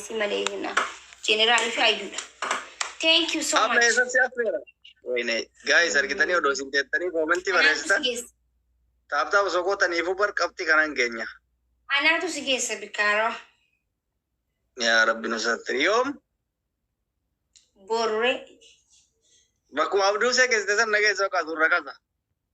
si malee jennaan jeneraalii fi ayyuudha. Thank you so Amma much. eessa si affeera? Wayne, guys argitanii odoo isin teettanii koomentii Anaatu si barreessitan geessa. taaptaa osoo gootaniifuu bar qabxii kanan keenya. Anaatu si geessa bikkaaroo. Yaa rabbi nu sattiri yoom Borree. bakkuma abduu see keessatti san nageessa oqaa suurra kasa.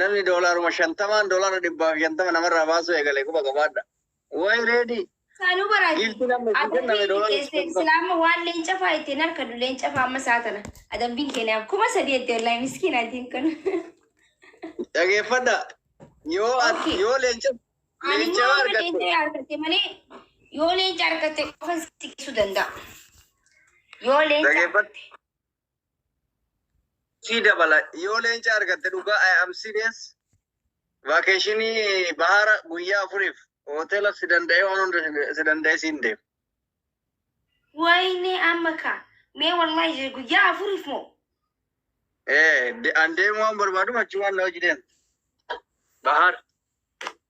Namni doolaaruma shantamaan doolaara dhibbaa fi shantama namarraa baasuu eegale quba qabaadha. Wayi reedii! Saanuu baraati. Giiftii namni itti kenname Adabbiin doolaara dhiyeesse shantamaa. islaama waan leenca faa itti hin harkadhu leenca faa amma saa tana adabbiin keenyaaf kuma sadii itti wallahi miskiin atiin kun. Dhageeffadha. Yoo at- Okay. yoo leenca Ani leenca immoo yoo amma argatte leenca yoo harkatte malee yoo leenca harkatte qofa si geessuu danda'a. Yoo leenca dhageeffadha. Sii dabala yoo leenca argatte dhugaa I am serious vaakeeshinii bahaara guyyaa afuriif hoteela si danda'ee waan hunda si- si danda'ee siin deema. Wayne amma ka. Mee wallahi je guyyaa afuriif moo. Ee de- an deemuu waan barbaadu achumaan na hojii deemta. Bahaara.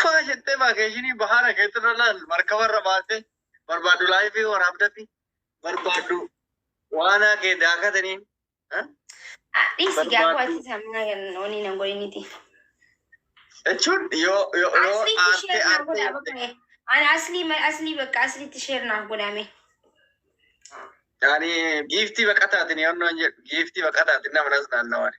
Faa jettee vaakeeshinii bahaara keetti irra laal markaba irra baatee barbaaddu laayifii waraabdatti barbaaddu waanaa kee daakataniin. Dhiisi gaafuu barbaaddu. ati sammuna kennu wani nan godhiniti. Jechuun yoo yoo yoo Asliitti aartee sheer naaf aartee godhaa bakka ee. Ani aslii ma- aslii bakka asliitti sheer naaf godhame. yaani giiftii baqataatiin yoonnoon jedhu giiftii baqataatiin nama nas naannawani.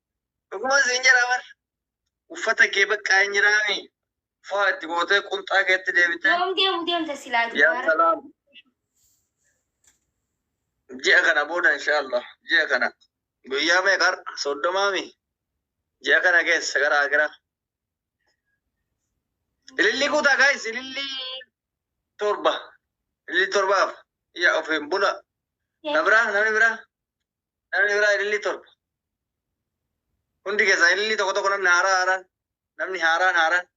Dhuguman siin jedhaa bar. Uffata kee bakka hin jiraami. Faa itti gootee qunxaa keetti deebitee. Yoom deemu deemta silaa Yaa dubaara. salaam. Ji'a kana booda inshaallah. Ji'a kana. Guyyaa meeqa har'a? Soddomaami. Ji'a kana keessa gara akira. Ilillii guutaa gaayis ilillii torba. Ilillii torbaaf. Yaa ofiin bula. Na biraa namni biraa. Namni biraa ilillii torba. Hundi keessan ilillii tokko tokko namni haaraa haaraan. Namni haaraan haaraan.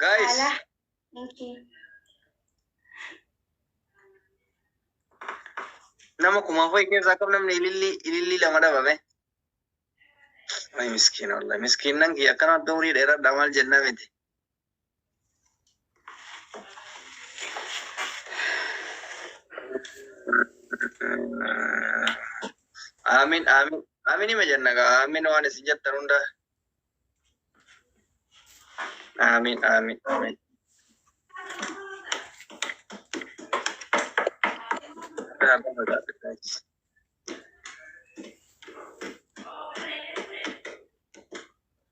Guys. Salah. Thank you. Nama kumaaf wayi keessaa akkam namni ilillii ilillii lama dhabame. Wayi miskiina wallahi miskiinnan kiyya akkana adda umurii dheeradha maal jennaa miti. Amin amin amin ima jenna gaa amin waan isin jettan hunda amin amin amin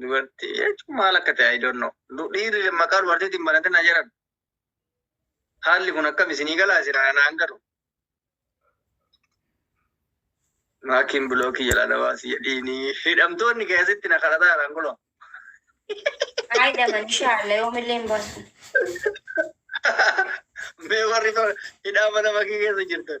Dubartii jechuun maal akka ta'e I don't know. Du- Dhiirri maqaa dubartiitiin banate na jedhan. Haalli kun akkam isinii galaa jira naan galu. Maakiin bilookii jalaa na baasii jedhiinii. Hidhamtoonni keessatti na kadhataa jiraan kunoo. Haa hidhaman inshaallah yoomillee hin baasu. Mee warri to- hidhaa mana makii keessa jirtan.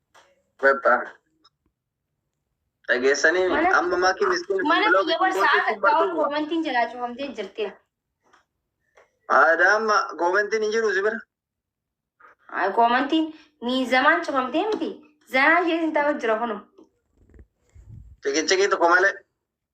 Bebba. Dhageessanii mi? Mana- Amma maatii miskiin Mana blog biyya barsaa gootii akka kun ta'uu bartuudha. koomantiin jalaa cufamtee jirti. Aadaa amma koomentiin hin jiru si bira. Ay, Koomantiin miizamaan cufamtee miti. Zanaa ishee sin ta'u jira kuno. Ciqiciqii tokko malee.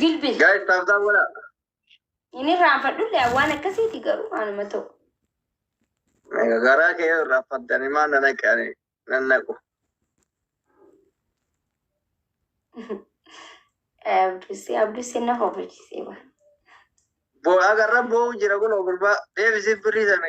Jilbi Guys, taaf taaf godha. hin irraanfadhulle waan akkasiiti garuu anuma ta'u. Egaa Garaa kee yoo irraa faddanii maal na naqanii nan naqu. Abdussee abdussee na hofachisee waan. Boo agarra boo'u jira kun gurbaa deebisiif birrii sana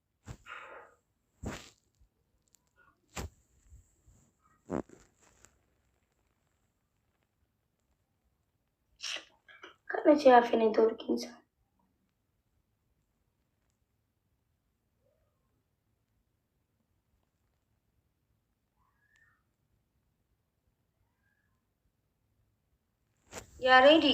Kana si hafe networkiin isaa. Yaareedi.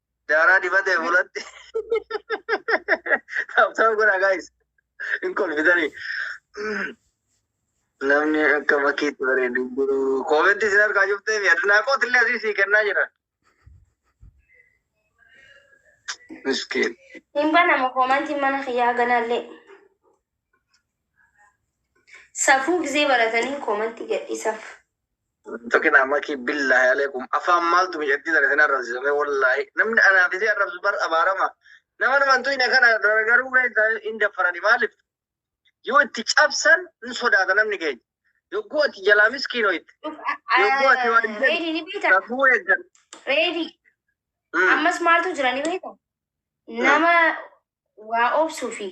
Daaraa dibatee fuulatti. Taphtaan godhaa gaayis. Hin kolfitanii. Namni akka makiitti bareedu hin jiru. Koomentii isin harkaa cuftee fi adinaaqooti illee asii sii kennaa jira. Miskiin. Hin banama koomantiin mana kiyyaa ganaallee. Safuu gizee baratanii koomantii gadhiisaf. Tokin amaki billahi alaikum afaan maaltu miidhagdii sana isin arrabsisame wallaahi namni anaaf isin arrabsu bar abaarama nama namantu hin kana garuu keessa hin daffarani maaliif yoo itti cabsan hin sodaata namni keenya yogguu ati jalaa miskiinoo itti yogguu ati waan hin Reedi ni beekta. safuu eeggan Reedi. Ammas maaltu jira ni beekta. Nama waa obsu fi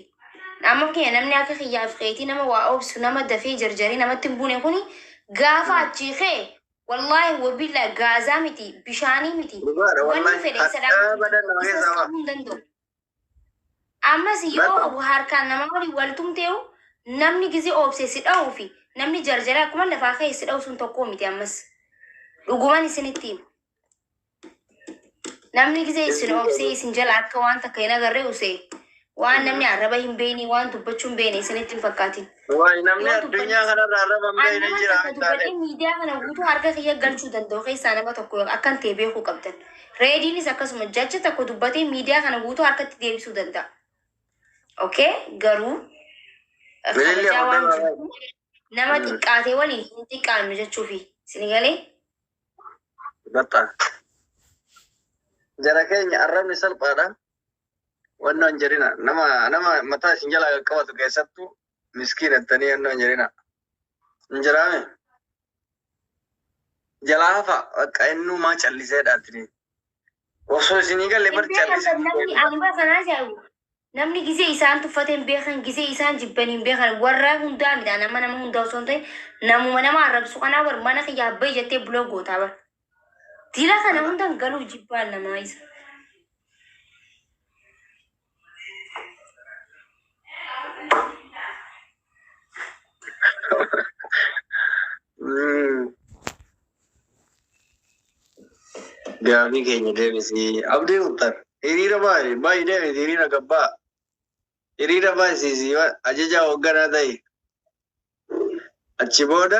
amma fakkenya namni akka kiyyaa fi keetii nama waa obsu nama dafee jarjaree namatti hin buune kuni gaafa achii kee wallaahi wabillaa gaazaa miti bishaanii miti dhugaadha wanni wallahi fedhe isa hadhaa dhaabuu hin badan danda'u nama isas keessaa qabuu ba'a hin danda'u ammas yoo barba harkaan namaa waliin wal tumteehu namni gizee obse si dha'uu fi namni jarjaree akkuma lafaa ka'e si dha'u sun tokkoo miti ammas dhuguman isinitti hima. Namni gisee isin obsee isin jala akka waan takka hin agarree usee waan namni arraba hin beekne waan dubbachuu hin beekne isinitti hin fakkaatin. Waay namni Yoo dubbanne- addunyaa kanarra arraba hin Ani beekne nama jira takka hin dubbadhee taane. miidiyaa kana guutuu harka kiyya galchuu danda'u keessaa nama tokko akkan ta'e beekuu qabdan. Reediinis akkasuma jacha tokko dubbatee miidiyaa kana guutuu harkatti deebisuu danda'a. Okay? Garuu eh, Bilillee kabajaa waan hordofaa. jirtuuf nama xiqqaate waliin hin xiqqaannu jechuufi. Isin galee? Batta. Jara keenya arrabni salphaadha. Wannoo hin jedhina. Nama nama mataa isin jalaa qaqqabatu keessattuu miskiin jettanii wannoo hin jedhina. Hin jiraame. Jalaa hafa bakka innuu maa callisee dhaatini. Osoo isinii galee bar Iddoo callisee. kan namni abbaa sanaa jedhu Namni gizee isaan tuffate hin beekan, gizee isaan jibban hin beekan. Warra hundaa midhaan nama nama hundaa osoo hin ta'in namuma nama arrabsu kanaa bar mana kiyya abbayi jettee buloo gootaa bar. Dila kana Kana hundan galuuf jibbaan namaa isa. Gaafii keenya deebisii. Abdii Muktar, hiriira baay'ee baay'ee deebisi hiriira gabbaa. Hiriira baay'isiisii ajajaa hoogganaa ta'i. Achi booda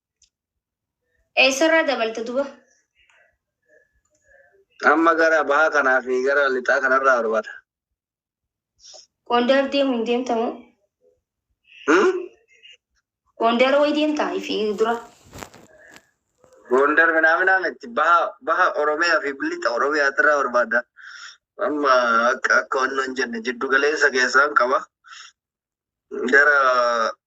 Eessarraa dabalta duba? Amma gara bahaa kanaa fi gara lixaa kanarraa barbada. Gondar deemu hin deemtamu. Hmm? Gondar way deemtaa fi dura. Gondar minaaminaa miti baha baha Oromiyaa fi lixa Oromiyaa irraa barbaada. Amma akka akka wannoon jenne jiddu galeessa keessaan qaba. Gara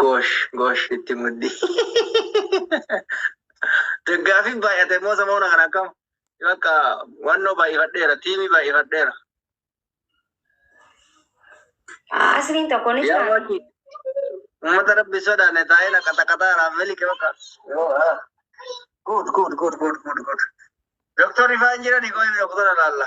Goosh goosh itti muddi. Deggaafiin baay'ate immoo samoona kana akkam bakka wannoo baay'ifadheera tiimii baay'ifadheera. Asliin tokko ni Yaa jira. waati uummata rabbi sodaanne taa'ee na qaxaqaxaa raafeli kee bakka. Good good good good good good. Doktorri faan jirani goone doktora laalla.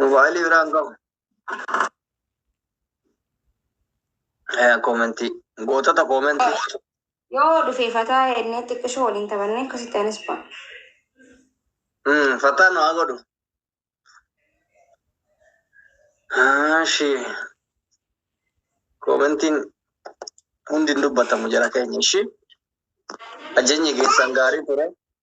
Mobaayilii biraan qabu. Eh, Koomentii. Gootota koomentii. Yoo dhufee fataa ennee xiqqishoo waliin taphannee akkasitti anis ba'a. Hmm, Fataa nu haa godhu. Ashi. Koomentiin hundi hin dubbatamu jara keenya ishi. Ajajni keessan gaarii ture.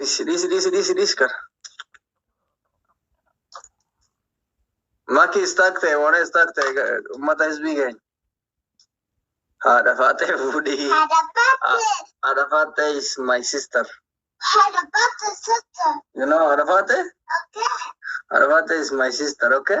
Dhisi dhisi dhisi dhisi dhisi kana. Maki istaak ta'e waan istaak ta'e uummata hizbii keenya. Haadha faaxee fuudhii. Haadha faaxee is my sister. You know haadha faaxee? Haadha faaxee is my sister okay?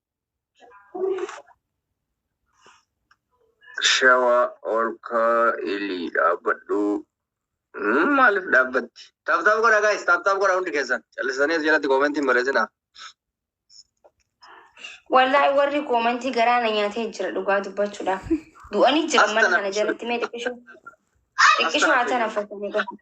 Shawaa olkaa ilii dhaabbadhu. Hmm, Maaliif dhaabbatti? Taaptaap godha gaayis, taaptaap godha hundi keessan. Callisanii as jalatti koomentiin barreessinaa. Wallaahi warri koomentii garaa na nyaatee jira dhugaa dubbachuudhaaf. Du'anii jiran mana kana jalatti mee xiqqishoo xiqqishoo haa tana fakkanii godha.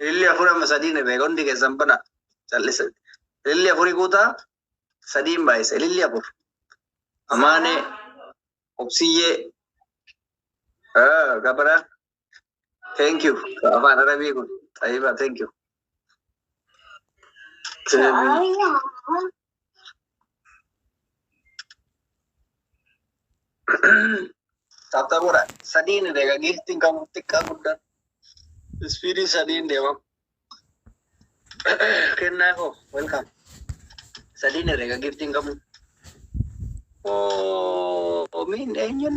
Ililli afur amma sadii ni beeka hundi keessan bana callisa. Ililli afuri guutaa sadiin baay'isa. Ililli afur. Amaanee, obsiyyee, ah, gabara. Thank you. Afaan arabii kun. Xayiba, thank you. Thank you. Tattabuudha. Sadiin deega giiftiin qabu xiqqaa guddaa. Ispiidii sadiin deema. Kennaa koo welcome. Sadiin deega giiftiin qabu. Oo miin eenyuun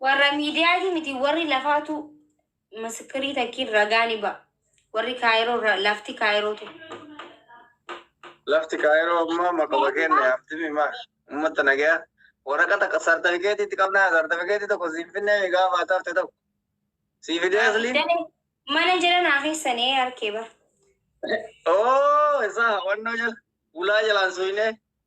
Warra miidiyaatii miti warri lafaatu misikirii takkiin ragaa ni ba'a. Warri Kaayiroo irra lafti Kaayiroo tu. Lafti Kaayiroo ammaa maqama keenya yaamtimi maa uummata nagaya waraqata qa- sartifikeetii itti qabnaa sartifikeetii tokko siin finnee mi gaafa ati hafte tokko sii fidee asliin Dane mana jala naa keessan ee harkee bara. oo isaa wannoo jala bulaa jalaan suynee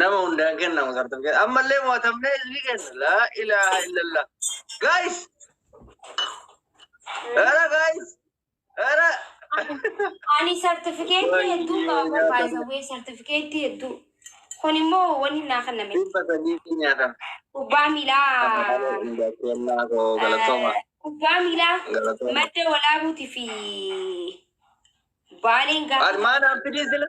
Nama hundaan kennamu sartifikeetii. Ammallee mo'atamnee isinii kenna. Laa ilaaha illallah. Guys! Era guys! Era! Ani sartifikeetii hedduu qaba barbaada. Wee sartifikeetii hedduu. Kun immoo wanni naa kenname. Dhibba sadii nyaatama. Kubbaa miilaa. Kennaa koo galatooma. eh, Kubbaa miilaa. Galatooma. Madda walaabuutii fi baaleen Ati gaafa. maal haaffidii sila?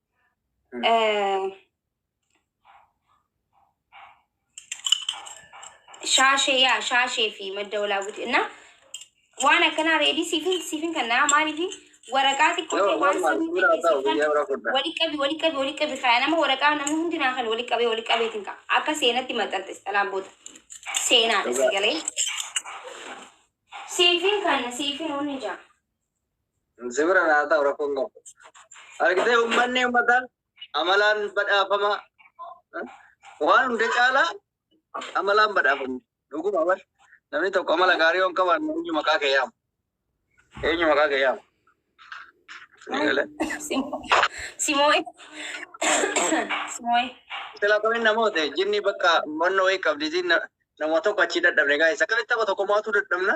shaashee yaa shaashee fi madda walaa buti na waan akkanaa reedii siifin siifin kan naa maaliifi waraqaa xiqqoo ta'e waan sirrii ta'e siifan wali qabi wali qabi wali qabi kaya nama waraqaa namni hundi naa kan wali qabee wali qabeetiin ka akka seenatti maxxantes dhalaan booda seenaadha si galee siifin kan siifin hundi jaa Sibira naa ta'u rakkoon qabu. Argitee uummanni uummataan amalaan badhaafama. Waan hunda caalaa amalaan badhaafama. Dhuguma bar. Namni tokko amala gaarii yoon qaban eenyu maqaa kee yaama. Eenyu maqaa kee yaama. Simoo'e. Simoo'e. Sila kamiin namoota jinni bakka manna wayii qabdi jinna nama tokko achi dadhabne gaa'isa. Akkamitti tapha tokko mo'atuu dadhabna?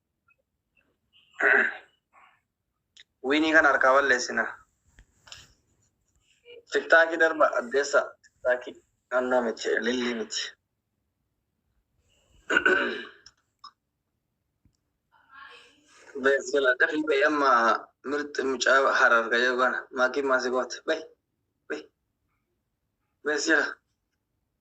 Wiinii kana harkaa balleessina. Tiktaakii darba addeessa. Tiktaakii naannoo miti, lillii miti. Beeksila dafii bahi amma mirxi mucaa harar gayee goona. Maakiin maasii goote. Bahi. Bahi. Beeksila.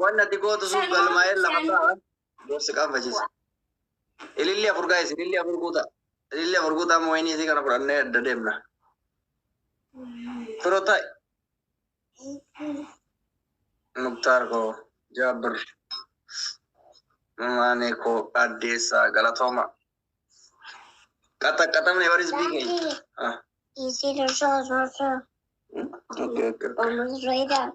Waan ati gootu sun galmaa'ee lafa ta'a. Gorsi qaanfachiisa. Ililli afur gaa'is ililli afur guuta. Ililli afur guuta amma wayinii isii kana fudhannee adda deemna. Firo ta'i. Muktaar koo Jaabir. Maanee koo addeessaa galatooma. Qaxaqaxamne baris biikee. Ah. Easy to show, so so. Okay, okay. Almost right up.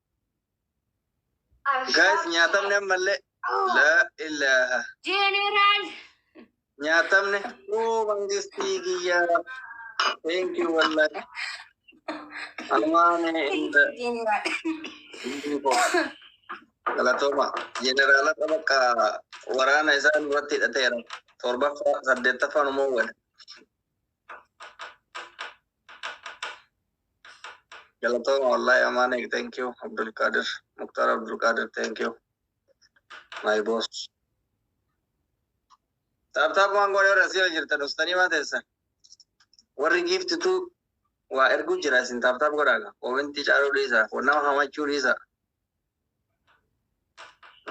Guys nyaatamne ammallee. La ilaha. General. Nyaatamne. Oo mangistii kiyyaa. Thank you wallahi. Amaane inda. General. Galatooma. Jeneraala bakka waraana isaan irratti hidhateera. Torbaffaa saddeettaffaan immoo wal. Galatooma wallahi Amaanee thank you Abdul Qadir Muktar Abdul Qadir thank you my boss. Taap taap waan goone warra asii yoo jirtan ustaanii maa teessan. Warri giiftitu waa erguu jira isin taap taap godhaaga. Koomentii caaluu dhiisa. Nama hamachuu dhiisa.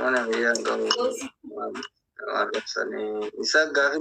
Mana biyyaa hin qabu. Waan ibsanii. Isa gaafii